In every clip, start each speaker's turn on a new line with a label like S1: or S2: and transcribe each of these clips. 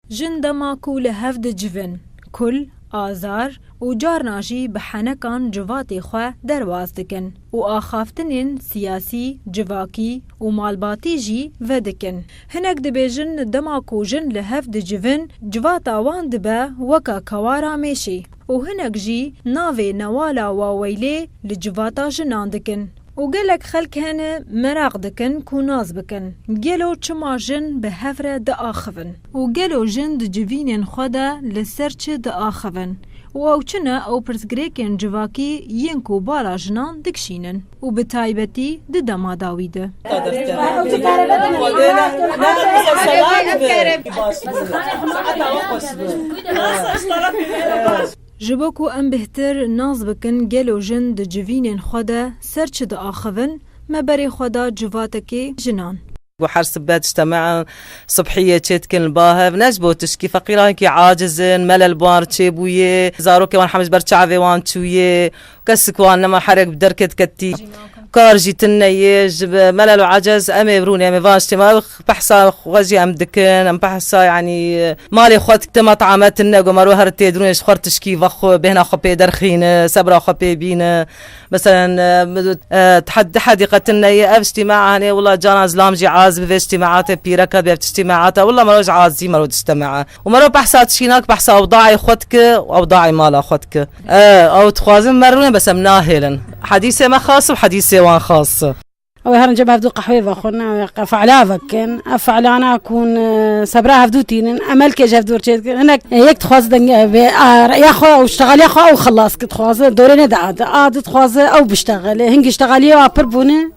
S1: Jin dema ku li hev dicivin, kul, azar û carna jî bi henekan civatê xwe derbas dikin û axaftinên siyasî, civakî û malbatî jî vedikin. Hinek dibêjin dema ku jin li hev dicivin civata wan dibe weka kewara mêşê û hinek jî navê Newala Waweylê li civata jinan dikin. Û gelek xelk hene meraq dikin ku nas bikin, gelo çima jin bi hev re diaxivin? Û gelo jin di civînên xwe de li ser çi diaxivin? Û ew çi ne ew pirsgirêkên civakî yên ku bala jinan dikişînin û bi taybetî di dema dawî de. Ji bo ku em bêhtir nas bikin gelo jin di civînên xwe de ser çi diaxivin, me berê xwe da civatekê jinan. Ku her sibe dijtemain subhiyê çêdikin li ba hev, ne ji bo tişkî, feqîran wekî aciz in, melelbar çêbûyê, zarokên wan heme ji ber çavê wan çûyê. Kesik wan nema herek bi derkê diketî. Kar jî tin neyê. Ji melel û ecez em ê birûn em ê van ji têma. Ew behsa xwe jî em dikin. Em behsa yanî malê xwe dikin. Dema tu ame tune ku maro here tê dirûn ê ji xwe re tişkî vexwe bêhna xwe pê derxîn e, sebra xwe pê bîne. Meselen di hedî qe tin neyê. Ev ji têma hanê wila canan zilam jî ez bi vê ji têma te pîreke bê ev tiştê me ate wila maro ji ezî maro dişte me. Û mero behsa çînak behsa ewdayê xwe dike û ewdayê mala xwe dike. Ew dixwazin me rûne bes em nahêlin. Hedîsê me xas û hedîsê wan xas. Ew herinca hevdû qehwê vexwin û fe'la vekin. Ev fe'la nakûn sebra hevdû tînin. Emelkê ji hevdû re çê dikin. Hinek yek dixwaze dengê ev bê a re'ya xwe û ştegaliya xwe ew xilas dixwaze dorê nede adi. Adi dixwaze ew biştegile. Hingî ştegaliyê wa pir bûne.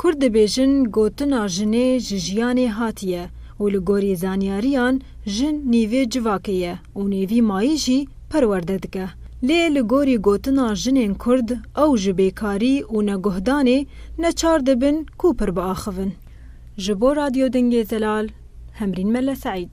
S1: Kurd dibêjin gotina jinê ji jiyanê hatiye û li gorî zanyariyan jin nîvê civakê ye û nêvî mayî jî perwerde dike. Lê li gorî gotina jinên kurd ew ji bêkarî û neguhdanê neçar dibin kû pir biaxivin. Ji bo Radyo Dengê Zelal, Hemrîn Melle Seîd.